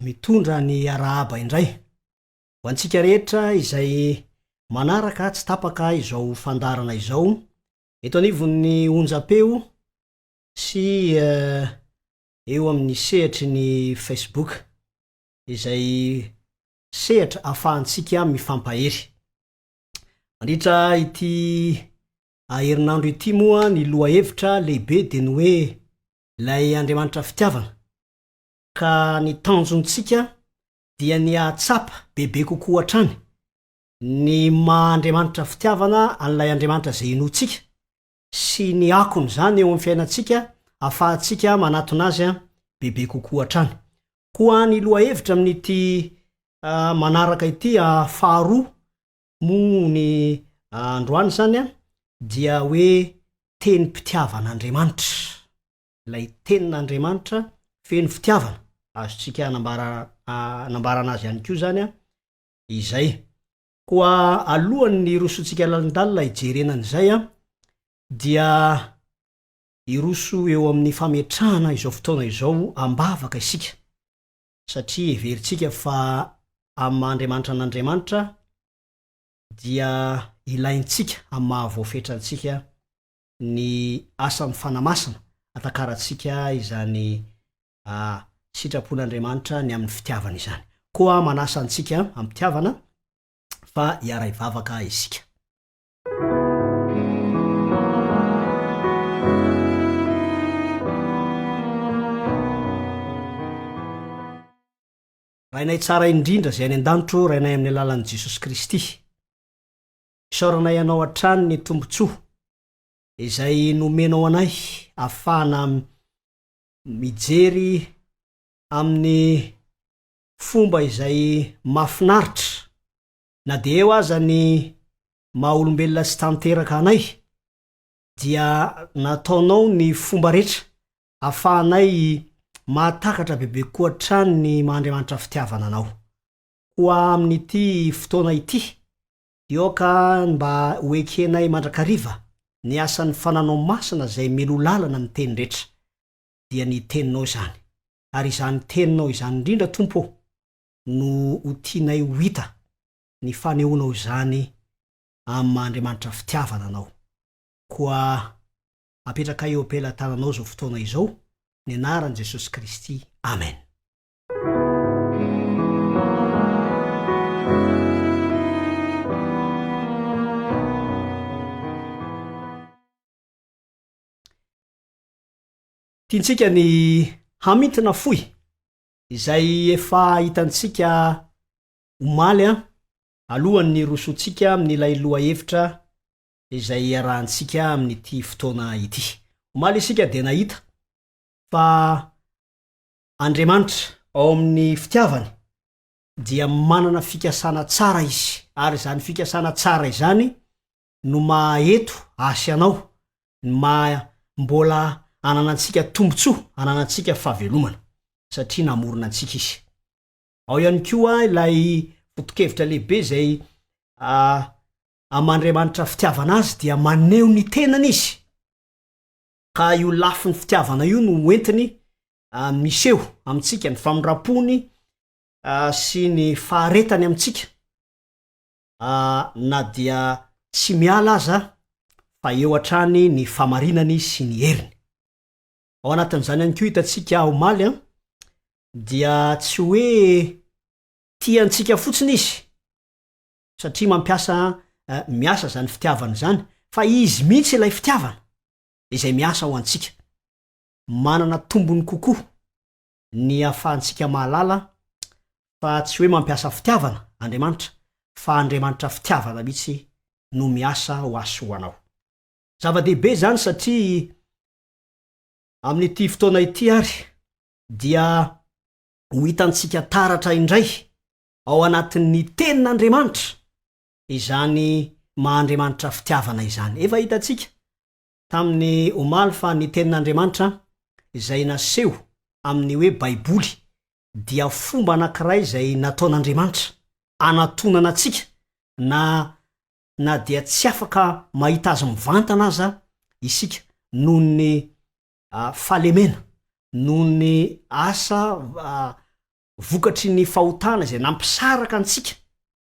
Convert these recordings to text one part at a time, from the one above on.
Mitondra ny arahaba indray ho antsika rehetra izay manaraka tsy tapaka izao fandaharana izao eto anivon'ny onjam-peo sy eo amin'ny sehatry ny Facebook izay sehatra ahafahantsika mifampahery. Mandritra ity herinandro ity moa ny lohahevitra lehibe dia ny hoe ilay Andriamanitra fitiavana ka ny tanjontsika dia ny hahatsapa bebe kokoa hatrany ny maha Andriamanitra fitiavana an'ilay Andriamanitra izay inoantsika sy ny akon'izany eo amin'ny fiainantsika afahantsika manatona Azy bebe kokoa hatrany. Koa ny lohahevitra amin'ity manaraka ity faharoa moa ny androany izany dia hoe tenim-pitiavan'Andriamanitra. ilay tenin'Andriamanitra feno fitiavana, azontsika anambara anambarana azy ihany koa zany a izay. Koa alohan'ny hirosoantsika lalindalina hijerena an'izay a dia hiroso eo amin'ny fametrahana izao fotoana izao am-bavaka isika satria heverintsika fa amin'ny maha Andriamanitra an'Andriamanitra dia ilaintsika amin'ny maha voafetra antsika ny asan'ny Fanahy Masina hatakarantsika izany sitrapon'Andriamanitra ny amin'ny fitiavana izany. Koa manasa antsika am-pitiavana fa hiara-hivavaka isika. Rainay tsara indrindra izay any an-danitro, Rainay amin'ny alalan'i Jesosy Kristy. Isaoranay Anao hatrany ny tombontsoa izay nomenao anay ahafahana mijery amin'ny fomba izay mahafinaritra na dia eo aza ny maha olombelona tsy tanteraka anay dia nataonao ny fomba rehetra ahafahanay mahatakatra bebe koa hatrany ny maha Andriamanitra fitiavana Anao. Koa amin'ity fotoana ity Aoka ny mba ho ekenay mandrakariva ny asan'ny fananao masina izay miloa lalana ny teny rehetra, dia ny teninao izany. Ary izany teninao izany indrindra Tompo ô no ho tianay ho hita ny fanehoanao izany amin'ny maha Andriamanitra fitiavana anao. Koa apetrakay eo am-pelatananao izao fotoana izao, ny anaran'i Jesosy Kristy, amen. tiantsika ny hamintina fohy izay efa hitantsika omaly a alohan'ny rosoantsika amin'ilay loha hevitra izay iarahantsika amin'ity fotoana ity omaly isika dia nahita fa Andriamanitra ao amin'ny fitiavany dia manana fikasana tsara izy ary izany fikasana tsara izany no maha eto ahy sy anao, ny maha mbola ananantsika tombontsoa, ananantsika fahavelomana satria namorona antsika izy. Ao ihany koa ilay foto-kevitra lehibe izay amin'Andriamanitra fitiavana azy dia maneho ny tenany izy. Ka io lafiny fitiavana io no hoentiny miseho amintsika, ny famindram-pony sy ny faharetany amintsika na dia tsy miala aza fa eo hatrany ny fahamarinany sy ny heriny. Ao anatin'izany ihany koa hitantsika omaly an, dia tsy hoe tia antsika fotsiny izy satria mampiasa miasa zany fitiavana zany fa izy mihitsy ilay fitiavana izay miasa ho antsika manana tombony kokoa ny afahantsika mahalala fa tsy hoe mampiasa fitiavana andriamanitra fa andriamanitra fitiavana mihitsy no miasa ho asy ho anao zava-dehibe zany satria amin'ity fotoana ity ary dia ho hitantsika taratra indray ao anatin'ny Tenin'Andriamanitra izany maha Andriamanitra fitiavana izany. Efa hitantsika tamin'ny omaly fa ny Tenin'Andriamanitra izay naseho amin'ny hoe Baiboly dia fomba anankiray izay nataon'Andriamanitra anatonana antsika na na dia tsy afaka mahita azy mivantana aza isika noho ny fahalemena, noho ny asa vokatry ny fahotana izay nampisaraka antsika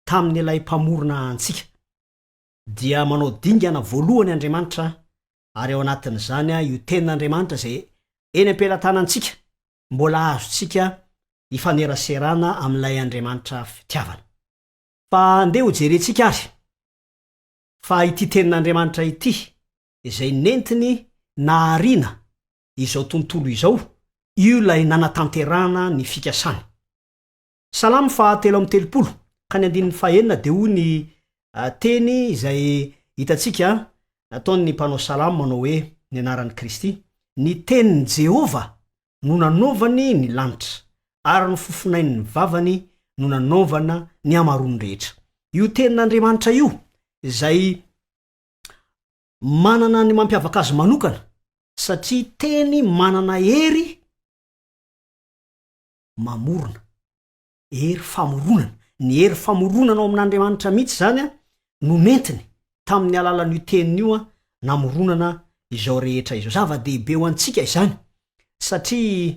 tamin'ilay Mpamorona antsika, dia manao dingana voalohany Andriamanitra, ary ao anatin'izany io Tenin'Andriamanitra izay eny am-pelatanantsika, mbola azontsika ifaneraserana amin'ilay Andriamanitra fitiavana. Fa andeha hojerentsika àry fa ity Tenin'Andriamanitra ity, izay nentiny nahariana izao tontolo izao io ilay nanatanterahana ny fikasany. Salamo faha telo amby telopolo ka ny andininy faha enina dia hoy ny teny izay hitantsika nataon'ny mpanao salamo manao hoe ny anaran'i Kristy, Ny tenin'i Jehovah no nanaovany ny lanitra, ary ny fofonain'ny vavany no nanaovana ny hamaroany rehetra. Io tenin'Andriamanitra io izay Manana ny mampiavaka azy manokana satria teny manana hery mamorona, hery famoronana. Ny hery famoronana ao amin'Andriamanitra mihitsy izany no nentiny tamin'ny alalan'io teniny io namoronana izao rehetra izao. Zava-dehibe ho antsika izany satria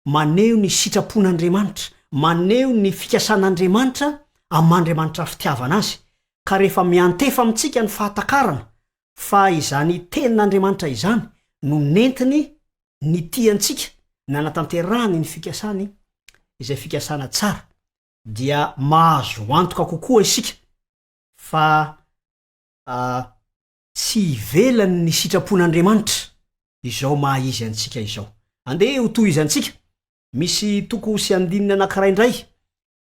maneho ny sitrapon'Andriamanitra, maneho ny fikasan'Andriamanitra amin'Andriamanitra fitiavana azy, ka rehefa miantefa amintsika ny fahatakarana fa izany Tenin'Andriamanitra izany no nentiny nitia antsika nanatanterahany ny fikasany, izay fikasana tsara, dia mahazo antoka kokoa isika fa Tsy ivelan' ny sitrapon' Andriamanitra izao maha izy antsika izao. Andeha hotohizantsika. Misy toko sy andininy anankiray indray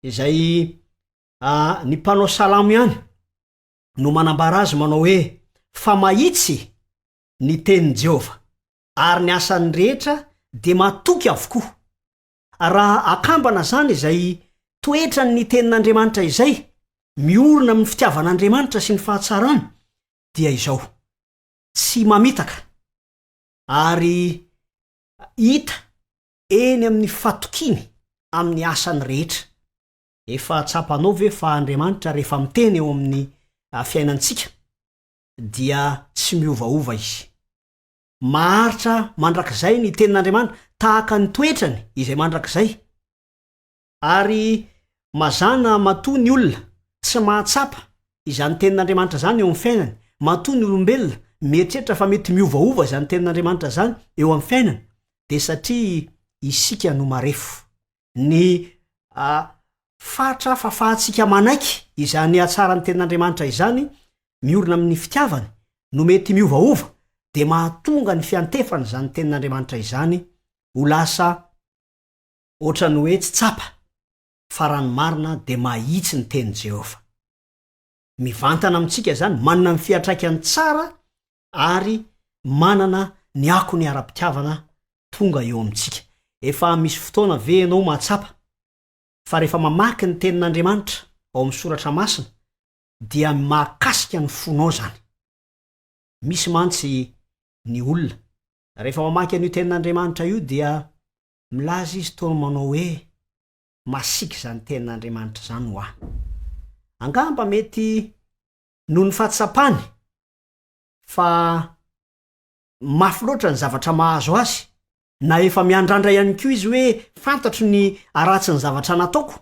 izay ny mpanao salamo ihany no manambara azy manao hoe, Fa mahitsy ny tenin'i Jehovah, ary ny asany rehetra dia matoky avokoa. Raha akambana izany izay toetran' ny Tenin' Andriamanitra izay miorina amin' ny fitiavan' Andriamanitra sy ny fahatsarany, dia izao, Tsy mamitaka, ary hita eny amin' ny fatokiany amin' ny asany rehetra. Efa tsapanao ve fa Andriamanitra rehefa miteny eo amin' ny fiainantsika dia tsy miovaova Izy? Maharitra mandrakizay ny Tenin'Andriamanitra, tahaka ny toetrany izay mandrakizay. Ary mazàna matoa ny olona tsy mahatsapa izany Tenin'Andriamanitra izany eo amin'ny fiainany, matoa ny olombelona mieritreritra fa mety miovaova izany Tenin'Andriamanitra izany eo amin'ny fiainany, dia satria isika no marefo. ny fatra fafahantsika manaiky izany hatsaran'ny tenin'Andriamanitra izany miorina amin'ny fitiavany no mety miovaova dia mahatonga ny fiantefana izany tenin'Andriamanitra izany ho lasa ohatran'ny hoe tsy tsapa fa raha ny marina dia mahitsy ny tenin'i Jehovah. Mivantana amintsika izany, manana ny fiantraikany tsara ary manana ny akony ara-pitiavana tonga eo amintsika. Efa misy fotoana ve ianao mahatsapa fa rehefa mamaky ny Tenin'Andriamanitra ao amin'ny Soratra Masina, dia mahakasika ny fonao izany? Misy mantsy ny olona, rehefa mamaky an'io Tenin'Andriamanitra io, dia milaza izy toa manao hoe, Masiaka izany Tenin'Andriamanitra izany ho ahy. Angamba mety noho ny fahatsapany fa mafy loatra ny zavatra mahazo azy, na efa miandrandra ihany koa izy hoe fantatro ny haratsy ny zavatra nataoko,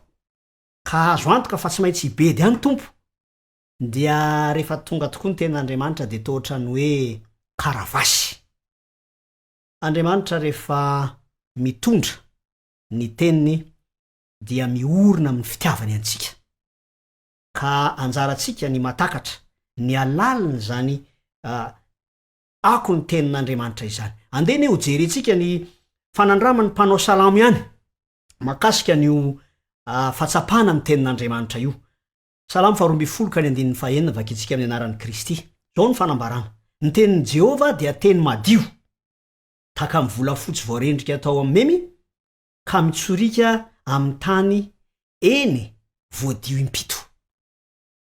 ka azo antoka fa tsy maintsy hibedy ahy ny Tompo. Dia rehefa tonga tokoa ny Tenin'Andriamanitra dia toa ohatran'ny hoe karavasy. Andriamanitra rehefa mitondra ny Teniny dia miorina amin'ny fitiavany antsika. ka anjarantsika ny matakatra ny alalin'ny izany akon'ny tenin'Andriamanitra izany. Andeha anie ho jerentsika ny fanandraman'ny mpanao salamo ihany makasika an'io fahatsapana ny tenin'Andriamanitra io. Salamo faharoa ambin'ny folo ka ny andininy fahenina, vakintsika amin'ny anaran'i Kristy. Izao ny fanambarana, Ny tenin'i Jehovah dia teny madio, tahaka ny volafotsy voarendrika atao amin'ny memy, ka mitsorika amin'ny tany eny voadio impito.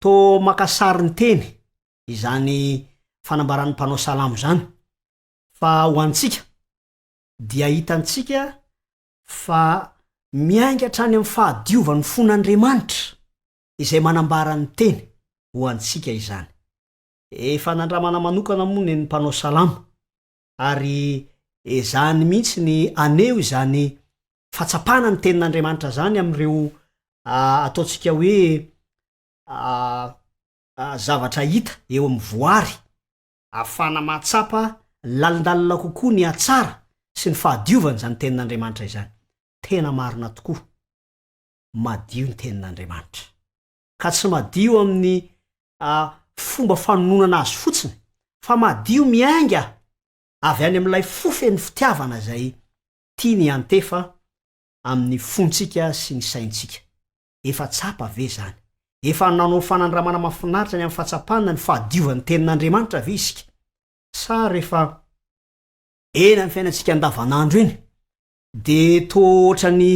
Toa maka sarin-teny izany fanambaran'ny mpanao salamo izany, fa ho antsika dia hitantsika fa miainga hatrany amin'ny fahadiovan'ny fon'Andriamanitra izay manambara ny teny ho antsika izany. Efa nandramana manokana moa ny ny mpanao salamo ary ezahany mihitsy ny haneho izany fahatsapana ny tenin'Andriamanitra izany amin'ireo ataontsika hoe zavatra hita eo amin'ny voary, ahafahana mahatsapa lalindalina kokoa ny hatsara sy ny fahadiovana izany tenin'Andriamanitra izany. Tena marina tokoa, madio ny tenin'Andriamanitra. ka tsy madio amin'ny fomba fanononana azy fotsiny fa madio miainga avy any amin'ilay fo feno fitiavana izay tia ny hiantefa amin'ny fontsika sy ny saintsika. Efa tsapa ve izany? Efa nanao fanandramana mahafinaritra ny amin'ny fahatsapana ny fahadiovan'ny Tenin'Andriamanitra ve isika? Sa rehefa eny amin'ny fiainantsika andavanandro eny dia toa ohatran'ny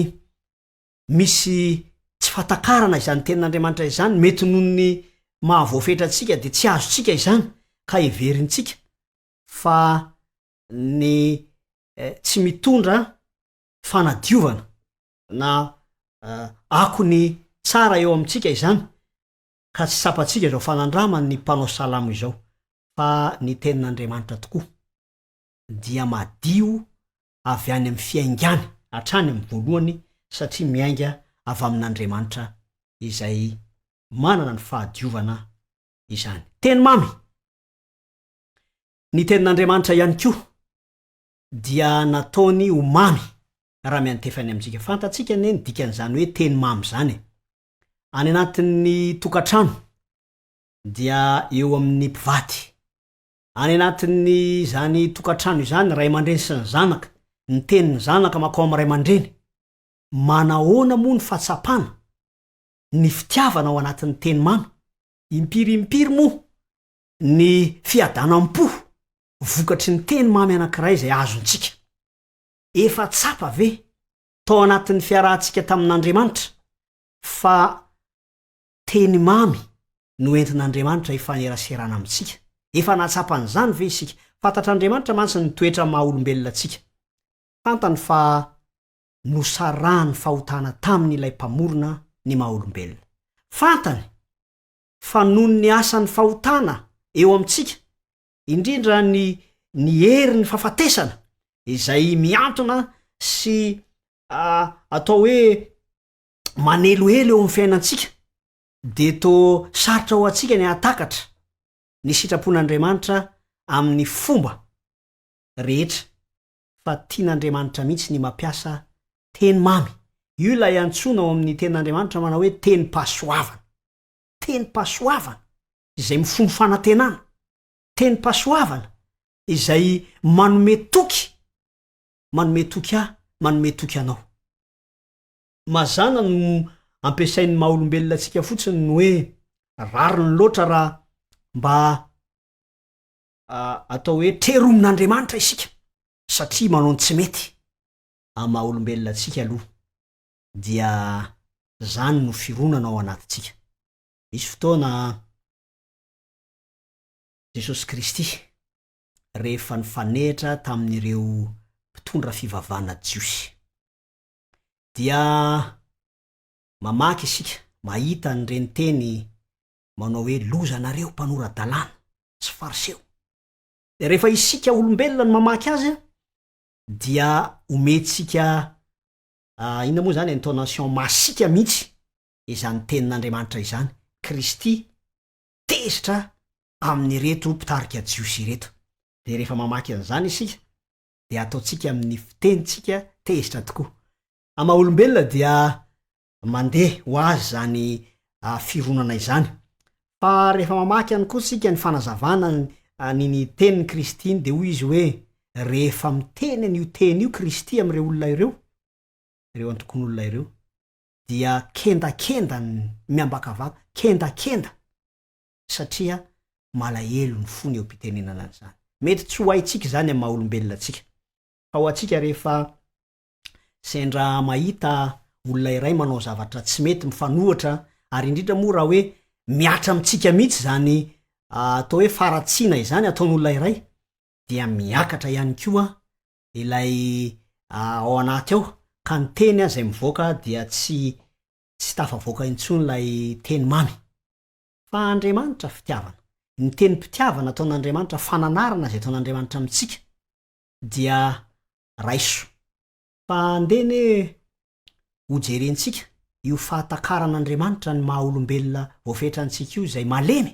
misy tsy fahatakarana izany tenin'Andriamanitra izany, mety noho ny maha voafetra antsika dia tsy azontsika izany ka heverintsika fa ny tsy mitondra fanadiovana na akony tsara eo amintsika izany ka tsy tsapantsika izao fanandraman'ny mpanao salamo izao fa ny tenin'Andriamanitra tokoa dia madio avy any amin'ny fiaingàny hatrany amin'ny voalohany satria miainga avy amin'Andriamanitra izay manana ny fahadiovana izany. Teny mamy. Ny Tenin'Andriamanitra ihany koa dia nataony ho mamy raha miantefany amintsika. Fantatsika anie ny dikan'izany hoe teny mamy izany e! Any anatin'ny tokantrano dia eo amin'ny mpivady Any anatin'izany tokantrano izany ny ray aman-dreny sy ny zanaka. Ny tenin'ny zanaka mankao amin'ny ray aman-dreny. Manahoana moa ny fahatsapana ny fitiavana ao anatin'ny teny mamy? Impiry impiry moa ny fiadanam-po vokatry ny teny mamy anankiray izay azontsika? Efa tsapa ve tao anatin'ny fiarahantsika tamin'Andriamanitra fa Teny mamy no entin'Andriamanitra hifaneraserana amintsika. Efa nahatsapa an'izany ve isika? Fantatr'Andriamanitra mantsy ny toetra maha-olombelona antsika. Fantany fa nosarahan'ny fahotana taminy ilay Mpamorona ny maha-olombelona. Fantany fa noho ny asan'ny fahotana eo amintsika, indrindra ny ny herin'ny fahafatesana, izay mihantona sy atao hoe manelohelo eo amin'ny fiainantsika, dia toa sarotra ho antsika ny hahatakatra ny sitrapon'Andriamanitra amin'ny fomba rehetra, fa tian'Andriamanitra mihitsy ny mampiasa teny mamy. Io ilay antsoina ao amin'ny Tenin'Andriamanitra manao hoe tenim-pahasoavana. Tenim-pahasoavana izay mifono fanantenana. Tenim-pahasoavana izay manome toky, manome toky ahy, manome toky anao. mazàna no ampiasain'ny maha olombelona antsika fotsiny ny hoe rariny loatra raha mba atao hoe treromin'Andriamanitra isika satria manao ny tsy mety amin'ny maha olombelona antsika aloha dia zany no fironana ao anatintsika. Misy fotoana Jesosy Kristy rehefa nifanehitra tamin'ireo mpitondra fivavahana jiosy. dia mamaky isika, mahita an'ireny teny manao hoe loza anareo mpanora-dalàna sy fariseo. Dia rehefa isika olombelona no mamaky azy dia omentsika inona moa izany, intonation masiaka mihitsy izany tenin'Andriamanitra izany, Kristy tezitra amin'ireto mpitarika jiosy ireto. Dia rehefa mamaky an'izany isika dia ataontsika amin'ny fitenintsika tezitra tokoa. Amin'ny maha olombelona dia mandeha ho azy izany fironana izany. Fa rehefa mamaky ihany koa isika ny fanazavana ny ny tenin'i Kristy iny dia hoy izy hoe rehefa miteny an'io teny io Kristy amin'ireo olona ireo, ireo antokon'olona ireo, dia kendakendany miambakavaka, kendakenda satria malahelo ny fony eo pitenenana an'izany. Mety tsy ho haintsika izany amin'ny maha olombelona antsika, fa ho antsika rehefa sendra mahita olona iray manao zavatra tsy mety, mifanohitra, ary indrindra moa raha hoe mihatra amintsika mihitsy izany atao hoe faharatsiana izany ataon'olona iray, dia miakatra ihany koa ilay ao anaty ao, ka ny teny izay mivoaka dia tsy tsy tafavoaka intsony ilay teny mamy. Fa Andriamanitra fitiavana. Ny tenim-pitiavana ataon'Andriamanitra fananarana izay ataon'Andriamanitra amintsika dia raiso. Fa andeha anie ho jerentsika io fahatakaran'Andriamanitra ny maha olombelona voafetrantsika io izay malemy,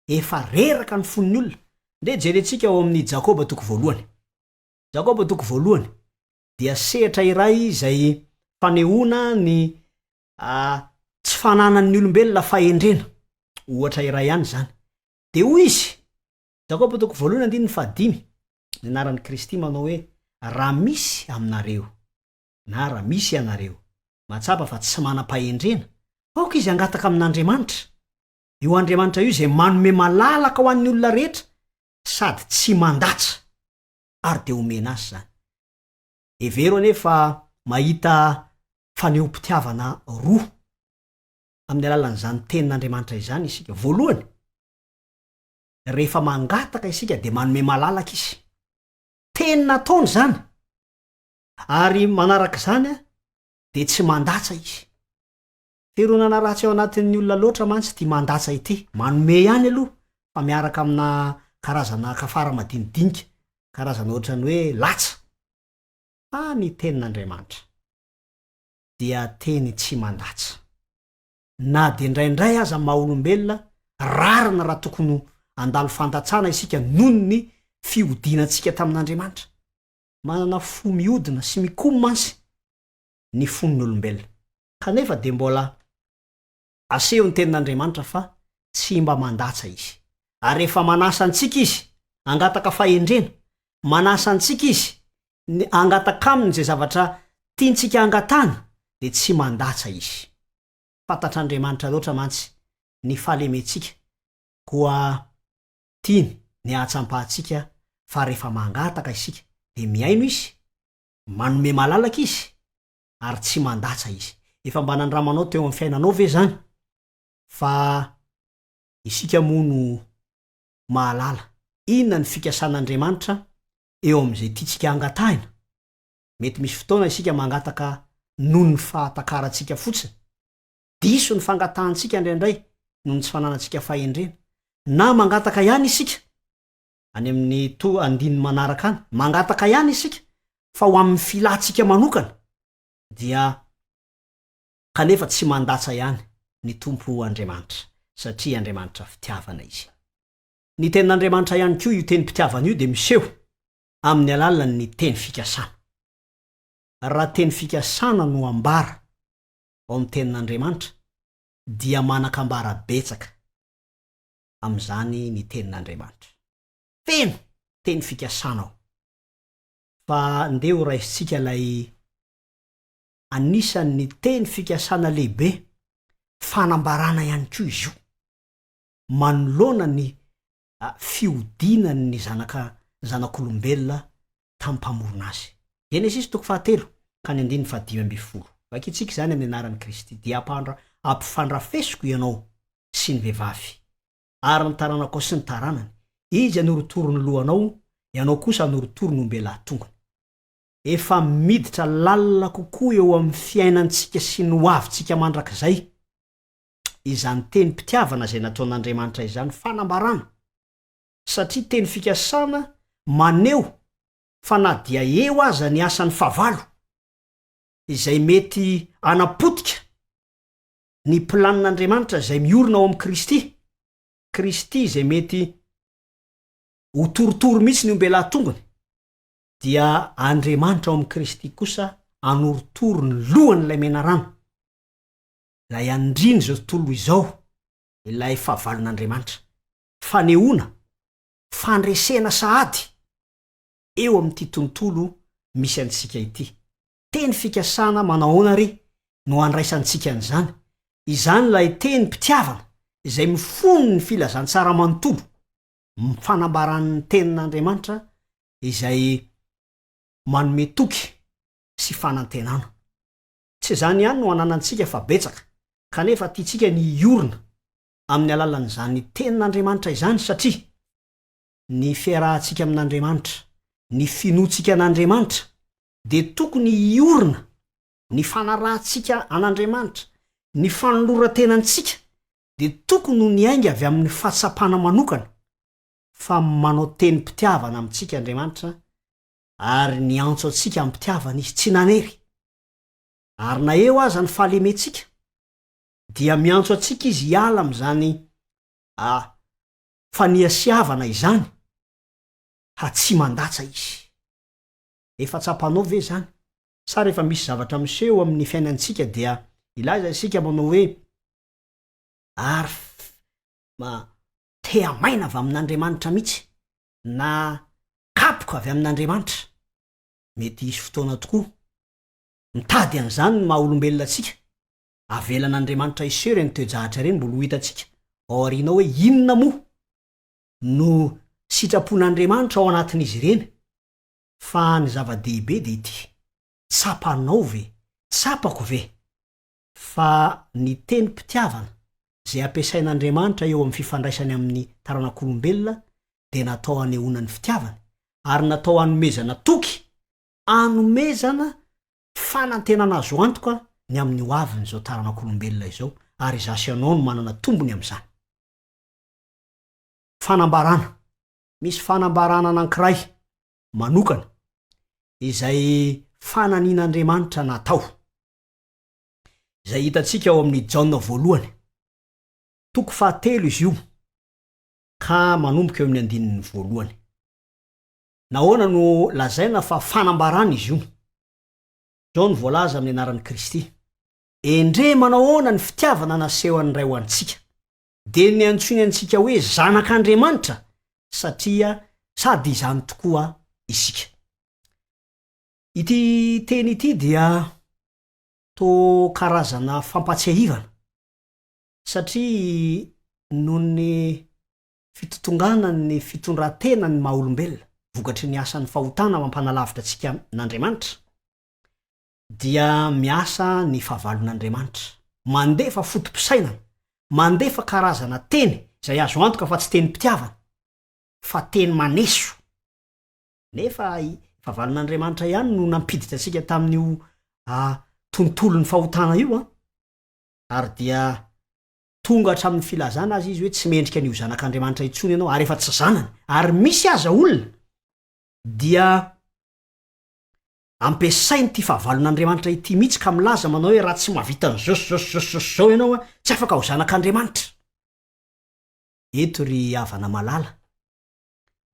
efa reraka ny fon'ny olona. Ndeha jerentsika ao amin'ny Jakoba toko voalohany. Jakoba toko voalohany dia sehatra iray izay fanehoana ny a. Tsy fananan'ny olombelona fahendrena, ohatra iray ihany izany. Dia hoy izy, Jakoba toko voalohany andininy fahadimy, ny anaran'i Kristy manao hoe, Raha misy aminareo, na raha misy ianareo, mahatsapa fa tsy manam-pahendrena, aoka izy hangataka amin'Andriamanitra, io Andriamanitra io izay manome malalaka ho an'ny olona rehetra sady tsy mandatsa, ary dia homena azy izany. Hevero anie fa mahita fanehoam-pitiavana roa amin'ny alalan'izany Tenin'Andriamanitra izany isika. Voalohany, rehefa mangataka isika dia manome malalaka izy. Teny nataony izany, ary manaraka izany dia tsy mandatsa izy. Fironana ratsy ao anatin'ny olona loatra mantsy ity mandatsa ity, manome ihany aloha fa miaraka amina karazana kafara madinidinika, karazana ohatran'ny hoe latsa. Fa ny tenin'Andriamanitra dia teny tsy mandatsa. Na dia indraindray aza maha olombelona, rariny raha tokony ho handalo fandatsana isika noho ny fihodinantsika tamin'Andriamanitra. Manana fo mihodina sy mikomy mantsy ny fon'ny olombelona. Kanefa dia mbola aseho ny tenin'Andriamanitra fa tsy mba mandatsa izy. Ary efa manasa antsika izy hangataka fahendrena, manasa antsika izy ny hangataka aminy izay zavatra tiantsika hangatahana, dia tsy mandatsa izy. Fantatr'Andriamanitra loatra mantsy ny fahalementsika, koa tiany ny hahatsampahantsika fa rehefa mangataka isika dia mihaino izy, manome malalaka izy, ary tsy mandatsa izy. Efa mba nandramanao teo amin'ny fiainanao ve izany? Fa isika moa no mahalala inona ny fikasan'Andriamanitra eo amin'izay tiantsika angatahina. Mety misy fotoana isika mangataka noho ny fahatakarantsika fotsiny, diso ny fangatahantsika indraindray noho ny tsy fananantsika fahendrena, na mangataka ihany isika any amin'ny to andininy manaraka any. Mangataka ihany isika fa ho amin'ny filantsika manokana dia kanefa tsy mandatsa ihany ny Tompo Andriamanitra satria Andriamanitra fitiavana Izy. Ny tenin'Andriamanitra ihany koa io tenim-pitiavana io dia miseho amin'ny alalan'ny teny fikasana. Raha teny fikasana no ambara ao amin'ny tenin'Andriamanitra dia manakambara betsaka. amin'izany ny Tenin'Andriamanitra. Feno teny fikasana ao. Fa ndeha ho raisintsika ilay anisan'ny teny fikasana lehibe, fanambarana ihany koa izy io, manoloana ny fihodinan'ny zanaka, zanak'olombelona tamin'ny Mpamorona azy. Genesisy toko fahatelo ka ny andininy fahadimy ambin'ny folo. Vakintsika izany amin'ny anaran'i Kristy, dia ampandra, ampifandrafesiko ianao sy ny vehivavy, ary ny taranakao sy ny taranany, izy hanorotoro ny lohanao, ianao kosa hanorotoro ny ombelahy tongony. Efa miditra lalina kokoa eo amin'ny fiainantsika sy ny hoavintsika mandrakizay izany tenim-pitiavana izay nataon'Andriamanitra izany fanambarana. satria teny fikasana maneho fa na dia eo aza ny asan'ny fahavalo, izay mety hanapotika ny planin'Andriamanitra izay miorina ao amin'i Kristy, Kristy izay mety ho torotoro mihitsy ny ombelà tongony, dia Andriamanitra ao amin'i Kristy kosa hanorotoro ny lohan'ilay menarana, ilay andrian'izao tontolo izao, ilay fahavalon'Andriamanitra. fanehoana fandresena sahady eo amin'ity tontolo misy antsika ity. Teny fikasana manao ahoana àry no handraisantsika an'izany? Izany ilay tenim-pitiavana izay mifono ny filazantsara manontolo fanambaran'ny Tenin'Andriamanitra izay manome toky sy fanantenana. Tsy izany ihany no ananantsika fa betsaka, kanefa tiantsika ny hiorina amin'ny alalan'izany Tenin'Andriamanitra izany satria ny fiarahantsika amin'Andriamanitra, ny finoantsika an'Andriamanitra dia tokony hiorina, ny fanarahantsika an'Andriamanitra, ny fanoloran-tenantsika dia tokony ho niainga avy amin'ny fahatsapana manokana fa manao tenim-pitiavana amintsika Andriamanitra ary niantso antsika am-pitiavana Izy, tsy nanery ary na eo aza ny fahalementsika. dia miantso antsika izy hiala amin'izany a fanihasiavana izany fa tsy mandatsa izy efa tsapanao ve zany sa rehefa misy zavatra miseho amin'ny fiainantsika dia ilaiza isika manao hoe ary ma tea maina avy amin'andriamanitra mihitsy na kapoka avy amin'andriamanitra mety hisy fotoana tokoa mitady an'izany ny maha olombelona atsika Avelan'Andriamanitra hiseho ireny toe-jahatra ireny mbola ho hitantsika ao aoriana ao hoe inona moa no sitrapon'Andriamanitra ao anatin'izy ireny fa ny zava-dehibe dia ity, tsapanao ve, tsapako ve fa ny tenim-pitiavana izay ampiasain'Andriamanitra eo amin'ny fifandraisany amin'ny taranak'olombelona dia natao hanehoana ny fitiavany ary natao hanomezana toky anomezana fanantenana azo antoka ny amin'ny ho avin'izao taranak'olombelona izao, ary izaho sy ianao no manana tombony amin'izany. Fanambarana. Misy fanambarana anankiray manokana izay fananian'Andriamanitra natao, izay hitantsika ao amin'ny Jaona voalohany, toko fahatelo izy io, ka manomboka eo amin'ny andininy voalohany. Nahoana no lazaina fa fanambarana izy io? Izao no voalaza amin'ny anaran'i Kristy, Endrey manahoana ny fitiavana nasehon'ny Ray ho antsika! Dia niantsoiny antsika hoe zanak'Andriamanitra, satria sady izany tokoa isika. Ity teny ity dia toa karazana fampatsiahivana, satria noho ny fitotonganan'ny fitondran-tenan'ny maha-olombelona vokatry ny asan'ny fahotana mampanalavitra antsika amin'Andriamanitra, dia miasa ny fahavalon'Andriamanitra. Mandefa foto-pisainana, mandefa karazana teny izay azo antoka fa tsy tenim-pitiavana, fa teny maneso. Nefa i fahavalon'Andriamanitra ihany no nampiditra antsika tamin'io tontolon'ny fahotana io, ary dia Tonga hatramin'ny filazana aza izy hoe tsy mendrika ny ho zanak'Andriamanitra intsony ianao ary efa tsy zanany, ary misy aza olona dia ampiasain'ity fahavalon'Andriamanitra ity mihitsy ka milaza manao hoe raha tsy mahavita an'izao sy izao sy izao sy izao sy izao ianao an, tsy afaka ho zanak'Andriamanitra. Eto ry havana malala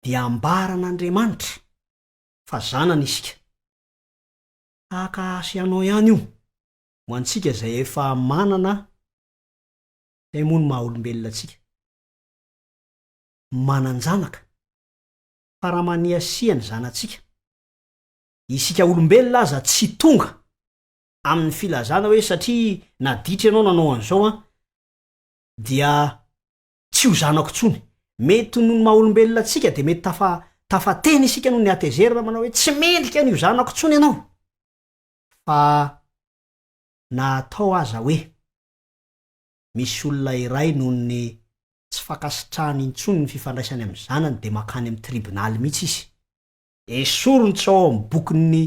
dia ambaran'Andriamanitra fa zanany isika. Tahaka hasy anao ihany io. ho antsika izay efa manana izay moa no maha olombelona antsika manan-janaka fa raha maniasia ny zanatsika isika olombelona aza tsy tonga amin'ny filazana hoe satria naditra ianao nanao an'izao an dia tsy ho zanako intsony mety noho ny maha olombelona antsika dia mety tafa tafateny isika noho ny hatezerana manao hoe tsy mendrika ny ho zanako intsony ianao Fa na atao aza hoe misy olona iray noho ny tsy fankasitrahany intsony ny fifandraisany amin'ny zanany dia mankany amin'ny tribonaly mihitsy izy. Esoriny tsy ao amin'ny bokin'ny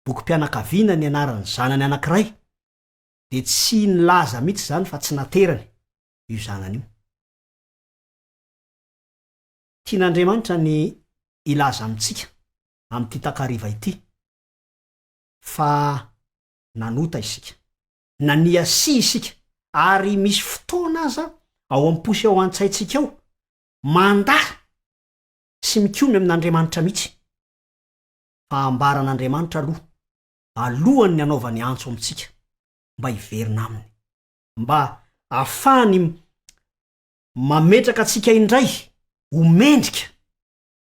bokim-pianakaviana ny anaran'ny zanany anankiray, dia tsy nilaza mihitsy izany fa tsy naterany io zanany io. Tian'Andriamanitra ny hilaza amintsika amin'ity takariva ity fa nanota isika. Nania si isika, ary misy fotoana aza ao am-po sy ao an-tsaintsika ao, mandà sy mikomy amin'Andriamanitra mihitsy. Fa ambaran'Andriamanitra aloha, alohan'ny hanaovany antso amintsika mba hiverina Aminy, mba hahafahany mametraka antsika indray ho mendrika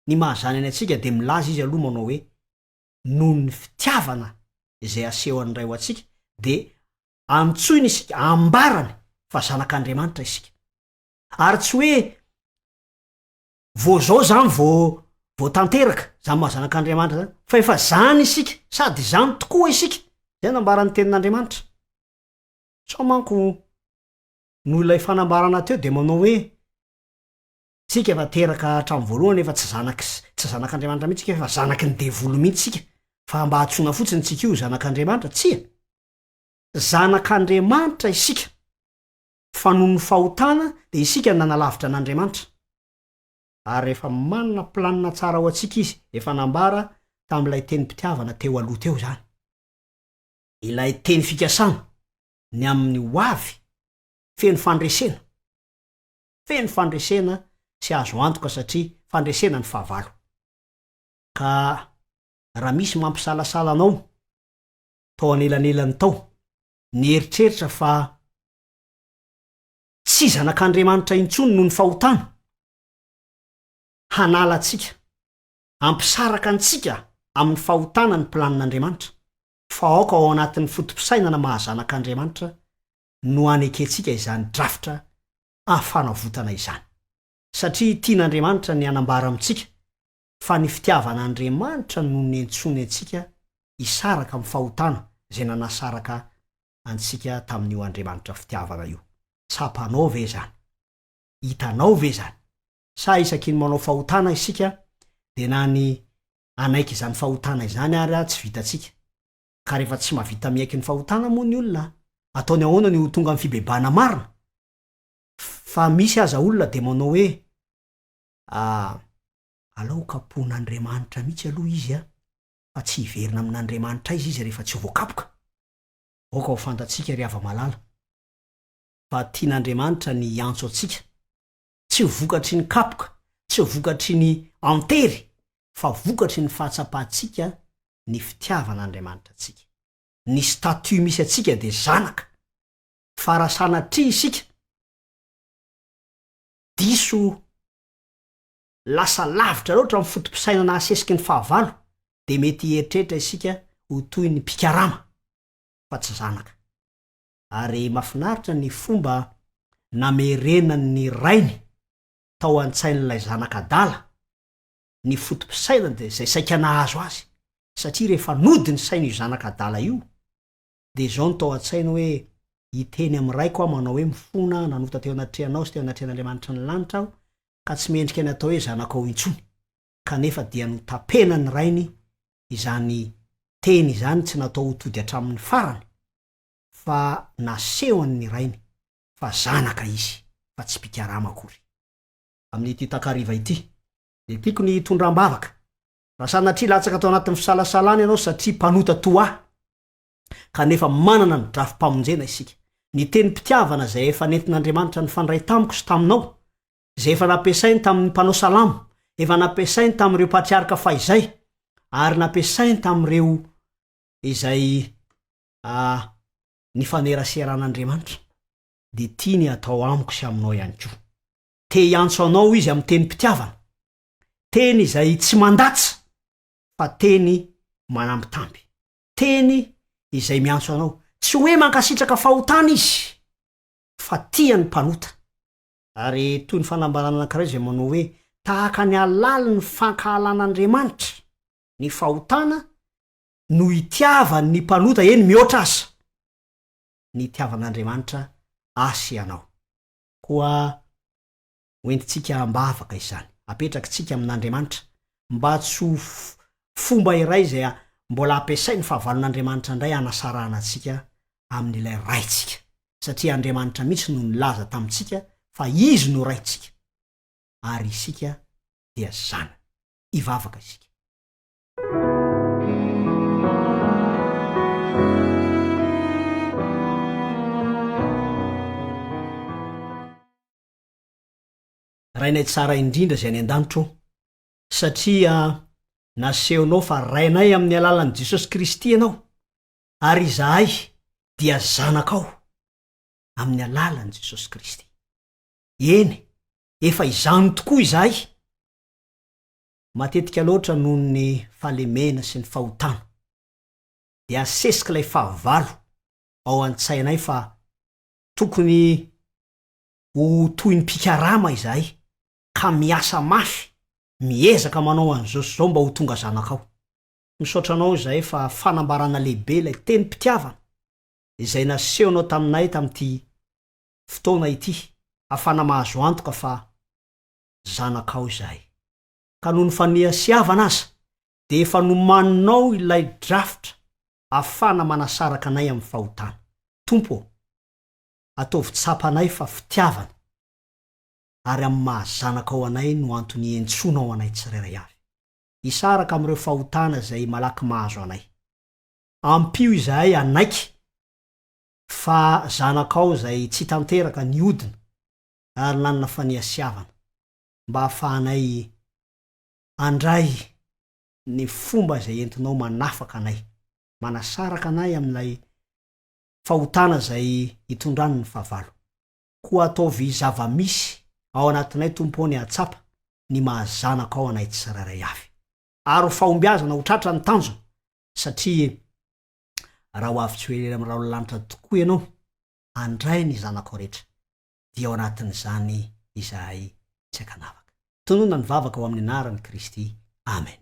ny maha-zanany antsika, dia milaza Izy aloha manao hoe, noho ny fitiavana izay asehon'ny Ray ho antsika, dia antsoiny isika, ambarany fa zanak'Andriamanitra isika. Ary tsy hoe vao zao zany vao vao tanteraka zany maha zanak'Andriamanitra zany, fa efa zany isika, sady izany tokoa isika, zay no nambaran'ny tenin'Andriamanitra. Sao manko noho ilay fanambarana teo dia manao hoe, Isika efa teraka hatramin'ny voalohany efa tsy zanak'i tsy zanak'Andriamanitra mihitsy isika fa zanaky ny devoly mihitsy isika fa mba antsoina fotsiny tsika io zanak'Andriamanitra, tsia! Zanak'Andriamanitra isika fa noho ny fahotana dia isika no nanalavitra an'Andriamanitra ary efa manana planina tsara ho antsika izy efa nambara tamin'ilay tenim-pitiavana teo aloha teo izany. Ilay teny fikasana ny amin'ny ho avy feno fandresena. feno fandresena sy azo antoka satria fandresena ny fahavalo. Ka raha misy mampisalasala anao tao anelanelany tao, nieritreritra fa tsy zanak'Andriamanitra intsony noho ny fahotana, hanala antsika, hampisaraka antsika amin'ny fahotana ny planin'Andriamanitra, fa aoka ao anatin'ny foto-pisainana maha zanak'Andriamanitra no hanekentsika izany drafitra afanavotana izany. Satria tian'Andriamanitra ny hanambara amintsika fa ny fitiavan'Andriamanitra no niantsoany antsika hisaraka amin'ny fahotana izay nanasaraka antsika tamin'io Andriamanitra fitiavana io. Tsapanao ve izany? Hitanao ve izany? Sa isaky ny manao fahotana isika dia na ny hanaiky izany fahotana izany ary tsy vitantsika? Ka rehefa tsy mahavita miaiky ny fahotana moa ny olona ataony ahoana ny ho tonga amin'ny fibebahana marina? Fa misy aza olona dia manao hoe ah alao ho kapohin'Andriamanitra mihitsy aloha izy an! Fa tsy hiverina amin'Andriamanitra aiza izy rehefa tsy voakapoka? Aoka ho fantatsika ry hava-malala fa tian'Andriamanitra ny hiantso antsika tsy ho vokatry ny kapoka, tsy ho vokatry ny antery, fa vokatry ny fahatsapantsika ny fitiavan'Andriamanitra antsika. Ny statut misy antsika dia zanaka, fa raha sanatria isika diso lasa lavitra loatra amin'ny foto-pisainana hasesiky ny fahavalo, dia mety hieritreritra isika ho toy ny mpikarama, fa tsy zanaka. ary mafinaritra ny fomba namerenan'ny rainy tao antsain'ilay zanaka adala ny foto-pisainany izay saika nahazo azy satria rehefa nody ny sain'io zanaka adala io dia izao no tao antsainy hoe hiteny amin'ny raiko aho manao hoe mifona nanota teo anatrehanao sy teo anatrehan'Andriamanitra ny lanitra aho ka tsy mendrika ny atao hoe zanakao intsony kanefa dia notapena ny rainy izany teny izany tsy natao ho tody hatramin'ny farany fa nasehon' ny rainy fa zanaka izy fa tsy mpikarama akory. Amin' ity takariva ity dia tiako ny hitondra am-bavaka, raha sanatria latsaka tao anatin' ny fisalasalana ianao satria mpanota toa ahy, kanefa manana ny drafi-pamonjena isika, ny tenim-pitiavana izay efa nentin' Andriamanitra nifandray tamiko sy taminao, izay efa nampiasainy tamin' ny mpanao salamo, efa nampiasainy tamin' ireo patriarka fahizay, ary nampiasainy tamin' ireo izay a Ny faneraseran'Andriamanitra dia tia ny hatao amiko sy aminao ihany koa. Te hiantso anao Izy amin'ny tenim-pitiavana, teny izay tsy mandatsa fa teny manambitamby, teny izay miantso anao. Tsy hoe mankasitraka fahotana Izy fa tia ny mpanota. Ary toy ny fanambarana anankiray izay manao hoe, Tahaka ny halalin'ny fankahalan'Andriamanitra ny fahotana no itiavan' ny mpanota, eny, mihoatra aza ny itiavan' Andriamanitra ahy sy ianao. Koa hoentintsika am-bavaka izany, apetrakitsika amin' Andriamanitra, mba tsy ho fomba iray izay mbola ampiasain' ny fahavalon' Andriamanitra indray hanasarahana antsika amin' ilay Raintsika, satria Andriamanitra mihitsy no nilaza tamintsika fa Izy no Raintsika, ary isika dia zanany. Hivavaka isika. Rainay tsara indrindra izay any an-danitra ô, satria nasehonao fa Rainay amin'ny alalan'i Jesosy Kristy ianao, ary izahay dia zanakao amin'ny alalan'i Jesosy Kristy. Eny, efa izany tokoa izahay. Matetika loatra noho ny fahalemena sy ny fahotana dia asesika ilay fahavalo ao an-tsainay fa tokony ho toy ny mpikarama izahay ka miasa mafy, miezaka manao an'izao sy izao mba ho tonga zanakao. Misaotra anao izahay fa fanambarana lehibe ilay tenim-pitiavana izay nasehonao taminay tamin'ity fotoana ity, hafana mahazo antoka fa zanakao izahay. Ka noho ny fanehasiavana aza dia efa nomaninao ilay drafitra afana manasaraka anay amin'ny fahotana. Tompo ô! Ataovy tsapanay fa fitiavana ary amin'ny maha zanakao anay no antony ientsoanao anay tsirairay avy. Hisaraka amin'ireo fahotana izay malaky mahazo anay. Ampio izahay hanaiky fa zanakao izay tsy tanteraka ny odina ary nanana fanihasiavana mba hahafahanay handray ny fomba izay entinao manafaka anay, manasaraka anay amin'ilay fahotana izay itondrany ny fahavalo. Koa ataovy zava-misy ao anatinay Tompo ô ny hahatsapa ny maha zanakao anay tsirairay avy. Ary ho fahombiazana ho tratra ny tanjona, satria raha ho avy tsy ho ela ela amin'ny rahona lanitra tokoa ianao, handray ny zanakao rehetra, dia ao anatin'izany izahay tsy ankanavaka. Tonona ny vavaka ao amin'ny anaran'i Kristy. Amen.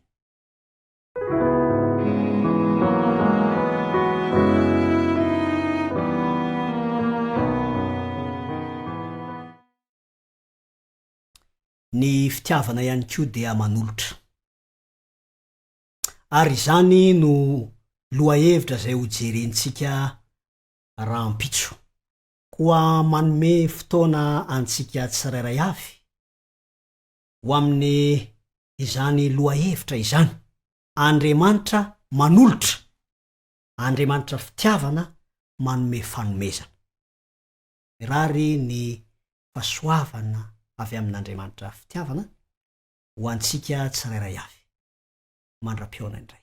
Ny fitiavana ihany koa dia manolotra. Ary izany no lohahevitra izay hojerentsika rahampitso. Koa manome fotoana antsika tsirairay avy ho amin' izany lohahevitra izany. Andriamanitra manolotra, Andriamanitra fitiavana manome fanomezana. Mirary ny fahasoavana avy amin' Andriamanitra fitiavana ho antsika tsirairay avy, mandra-pihaona indray.